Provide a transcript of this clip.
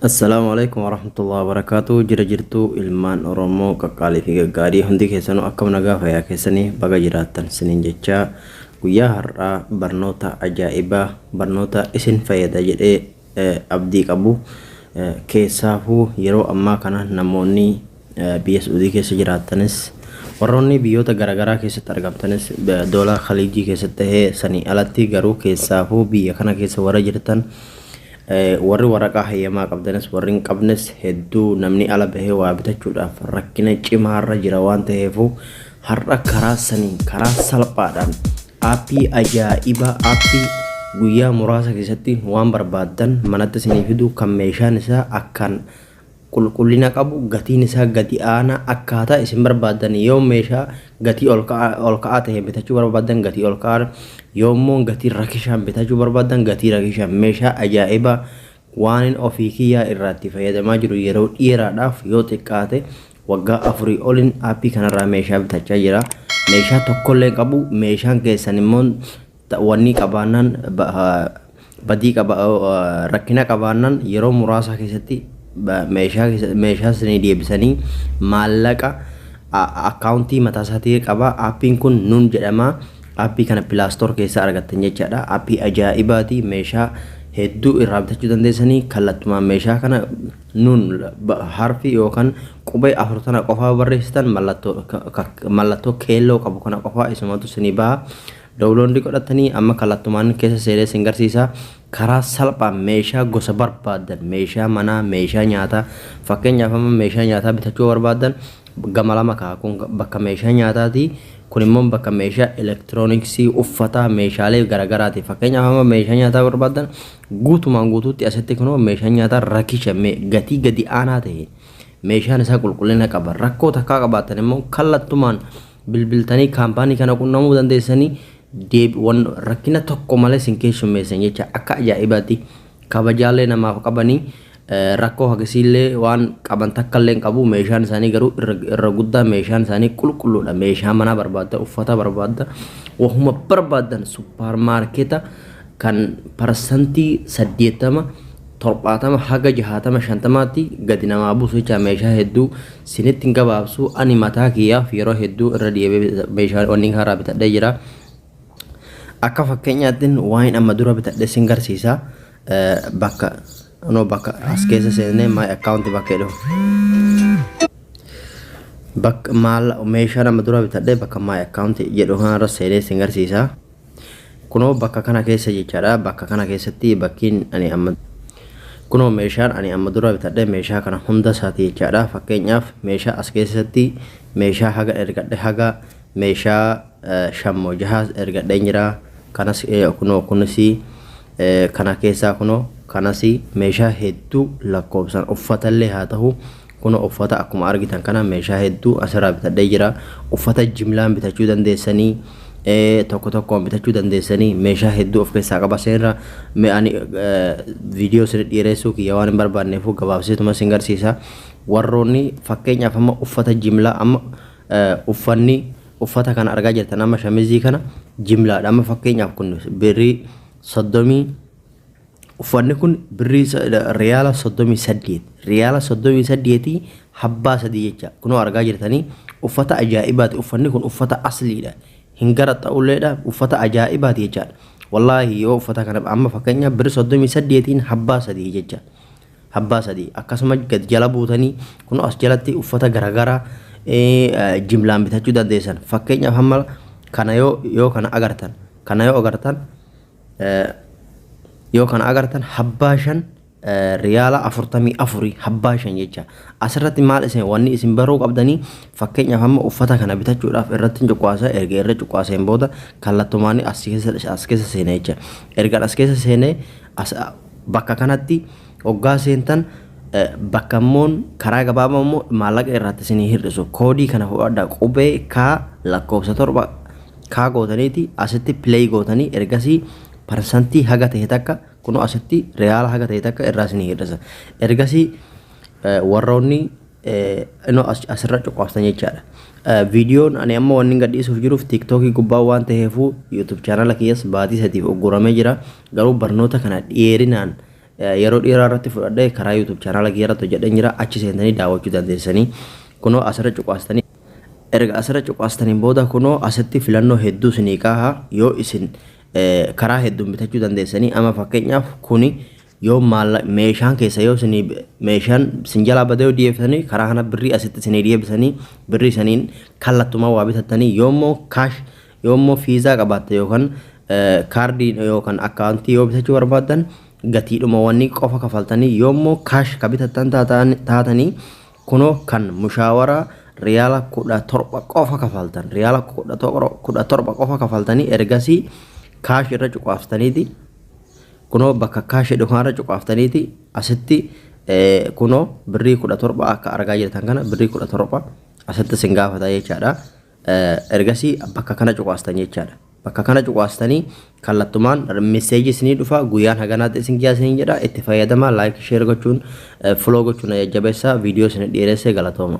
Assalaamu alaikum warahmatullahi wabarakatuh jira jirtuu ilmaan oromoo qaqqaalii fi gaggaarii hundi keessanuu akkam nagaa fayyaa keessanii baga jiraattan sinin jechaa guyyaa har'aa barnoota ajaa'ibaa barnoota isin fayyada jedhee eh, abdii qabu Eh, keessaafuu yeroo ammaa kana namoonni Biyya Su'udii keessa jiraattanis, warroonni biyyoota garagaraa keessatti argamtanis, Doola Khaliijii keessatti tahee sanii alatti garuu keessaafuu biyya kana keessa warra jirtan, warri waraqaa hayyamaa qabdanis warri hin qabnes hedduu namni ala bahee waa bitachuudhaaf rakkina cimaarra jira waan taheefuu har'a karaa saniin karaa salphaadhaan aappii ajaa'iba aappii guyyaa muraasa keessatti waan barbaaddan manatti isinii fidu kan meeshaan isaa akkaan qulqullina qabu, gatiin isaa gadi aanaa, akkaataa isin barbaaddan yoo meeshaa gatii olka'aa ta'een bitachuu barbaaddan gatii olka'aan, yoo immoo gatii rakishaan bitachuu barbaaddan gatii rakishaan meeshaa ajaa'ibaa waanin ofii kiyyaa irraatti fayyadamaa jiru yeroo dheeraadhaaf yoo xiqqaate waggaa afurii olin aappii kanarraa meeshaa bitachaa jira. Meeshaa tokkollee qabu meeshaan keessan immoo Wannii qabaannaan badii qaba rakkina qabaannaan yeroo muraasaa keessatti meeshaa meeshaa sanii deebisanii maallaqa akkaawuntii mataa isaatii qaba appiin kun nuun jedhama appii kana pilaastoor keessaa argattan jechaadha appii ajaa'ibaatii meeshaa hedduu irraa bitachuu dandeessanii kallattumaan meeshaa kana nuun harfi yookaan qubee afur tana qofaa barreessitan mallattoo keelloo qabu kana qofaa isumatu sinii baha Dowloondii godhattanii amma kallattumaan keessa seenee sin garsiisa. Karaa salphaan meeshaa gosa barbaaddan meeshaa manaa, meeshaa nyaataa fakkeenyaaf amma meeshaa nyaataa bitachuu yoo barbaaddan gama lama ka'a kun bakka meeshaa nyaataati kun immoo bakka meeshaa elektirooniksii, uffataa, meeshaalee garagaraati. Fakkeenyaaf amma meeshaa nyaataa barbaaddan guutumaan guutuutti asitti kunoo meeshaan nyaataa rakisha gatii gadi aanaa ta'e meeshaan isaa qulqullina qaba rakkoo takkaa qabaattan immoo kallattumaan bilbiltanii kaampaanii kana qunnamuu dandeessanii deebiiwwan rakkina tokko malee sin keessummeessan jecha akka ajaa'ibaatti kabajaallee namaaf qabanii rakkoo hagasiillee waan qaban takkallee qabu meeshaan isaanii garuu irra guddaa meeshaan isaanii qulqulluudha meeshaa manaa barbaadda uffata barbaadda wahuma barbaadan suppaar maarkeeta kan parsantii saddeettama torbaatama haga jahaatama shantamaatti gadi namaa buusu jecha meeshaa hedduu Sinittin gabaabsu ani mataa kiyyaaf yeroo hedduu irra deebi'ee meeshaa wanni haaraa bitadhee jira. Akka fakkeenyaattin waan amma dura bitadhe sin garsiisa. Bakka no bakka as keessa seennee my account bakka jedhu. Bakka maal meeshaa amma dura bitadhe bakka my account jedhu kanarra seenee sin garsiisa. Kunoo bakka kana keessa jechaadha. Bakka kana keessatti bakkiin ani amma kunoo meeshaan ani amma dura bitadhe meeshaa kana hunda isaati jechaadha. Fakkeenyaaf meeshaa as keessatti meeshaa haga ergadhe haga meeshaa eh, shan moo jahaas ergadheen jira. Kanas eh, kunoo kunis eh, kana keessaa kunoo kanas meeshaa hedduu lakkoofsan uffatallee haa ta'u Kuno uffata akkuma argitan kana meeshaa hedduu asirraa bitadhee jira. Uffata jimlaan bitachuu dandeessanii tokko tokkoon bitachuu dandeessanii meeshaa hedduu of keessaa qaba seenra. Mee ani viidiyoo isin dhiireessuu kiyya waan hin barbaanneefuu gabaabseetuma isin garsiisa. Warroonni fakkeenyaaf amma uffata jimlaa amma uffanni uffata kana argaa jirtan amma shamizii kana jimlaadha. Amma fakkeenyaaf kun birrii soddomii Uffanni kun birrii riyaala 38 riyaala 38 habbaa sadii jecha kunoo argaa jirtanii uffata ajaa'ibaati uffanni kun uffata asliidha hin gara ta'ulleedha uffata ajaa'ibaati jechaadha wallaahi yoo uffata kana amma fakkeenya birri 38 habbaa sadii jecha habbaa sadii akkasuma gad jala buutanii kunoo as jalatti uffata garagaraa jimlaan bitachuu dandeessan fakkeenyaaf hamma kana yoo yoo kana agartan kana yoo agartan Yoo kana agartan habbaa shan riyaala afurtamii afurii habbaa shan jecha asirratti maal isin wanni isin baruu qabdanii fakkeenyaaf amma uffata kana bitachuudhaaf irratti hin cuqaasa erga irra cuqaaseen booda kallattumaan as keessa as keessa seena jecha erga as keessa seenee as bakka kanatti oggaa seentan bakka immoo karaa gabaabaa immoo maallaqa irratti isinii hir'isu koodii kana fudhadha qubee kaa lakkoofsa torba Kaa gootaniiti asitti play gootanii ergasii parsantii haga ta'e takka kunoo asitti reyaala haga ta'e takka irraa isinii hir'isa. Ergasii warroonni inoo asirra cuqaaftan jechaadha. Viidiyoon ani amma wanni gadhiisuuf jiruuf tiiktookii gubbaa waan ta'eefuu yuutuub chaanala kiyyas baatii sadiif ugguramee jira. Garuu barnoota kana dheerinaan yeroo dheeraa irratti fudhadhee karaa yuutuub chaanala kiyya irratti hojjedheen jira. Achi seentanii daawwachuu dandeessanii. Kunoo asirra cuqaastanii. Erga asirra cuqaastaniin booda kunoo asitti filannoo hedduu isinii kaaha yoo isin karaa hedduun bitachuu dandeessanii ama fakkeenyaaf kuni yoo maalla meeshaan keessa yoo isinii meeshaan isin jalaa badee yoo dhiyeeffatanii karaa kana birrii asitti isinii dhiyeebisanii birrii isaniin kallattumaa waa bitattanii yoo immoo kaash yoo immoo fiizaa qabaatte yookaan kaardii yookaan akkaawuntii yoo bitachuu barbaaddan gatiidhuma wanni qofa kafaltanii yoo immoo kaash ka bitattan taatanii Kunoo kan mushaawaraa riyaala 17 qofa kafaltan riyaala 17 qofa kafaltanii ergasii kaash irra cuqaaftaniiti kunoo bakka kaash jedhu kanarra cuqaaftaniiti asitti kunoo birrii 17 akka argaa jirtan kana birrii 17 asitti sin gaafata jechaadha. Ergasii bakka kana cuqaastan jechaadha. Bakka kana cuqaastanii kallattumaan message isinii dhufa guyyaan haganaatti isin giyaa isiniin jedha itti fayyadamaa like share gochuun follow gochuun na jajjabeessaa video isin dheeressee galatooma.